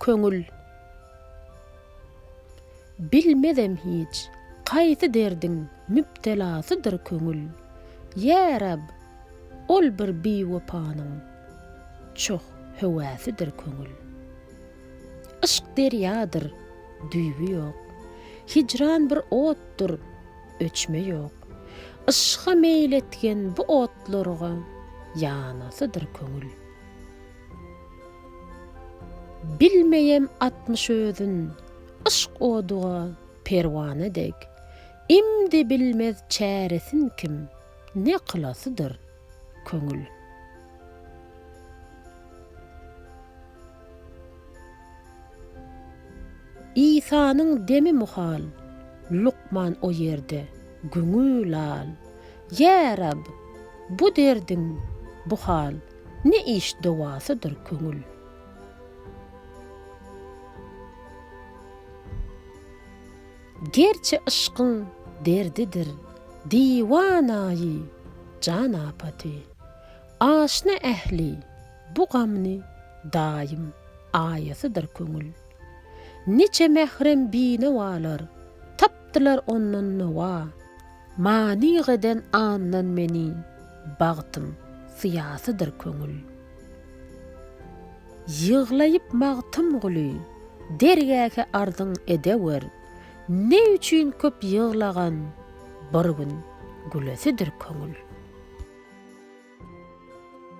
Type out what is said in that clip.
Köňül. Bilmezem hiç, haýsy derdiň mübtelasydyr köňül. Ýa Reb, ol bir biwepanyň çoh höwäsidir köňül. Yşk derýadyr, düýbi ýok. Hijran bir otdur. öçme ýok. Yşga meýil etgen bu otlarga ýanasydyr köňül. Bilmeýem atmyş özün yşk oduga perwana dek. Imdi bilmez çäresin kim, ne kylasydyr köňül. Isanyň demi muhal, Lukman o ýerde, göňi lal. Ýa Reb, bu derdiň, bu hal, Ne iş dowasydyr köňül. Gerçi yşkyň derdidir, Diwanayy jan apaty. Aşna ähli bu gamyny daýym aýasydyr köňül. Niçe mährem binawalar tapdylar ondan nawa. Manyk eden andan meni bagtym syýasydyr köňül. Ýyglaýyp Magtymguly dergähi arzyň edewer, ne üçin köp ýyglagan, Bir gün gülesidir köňül.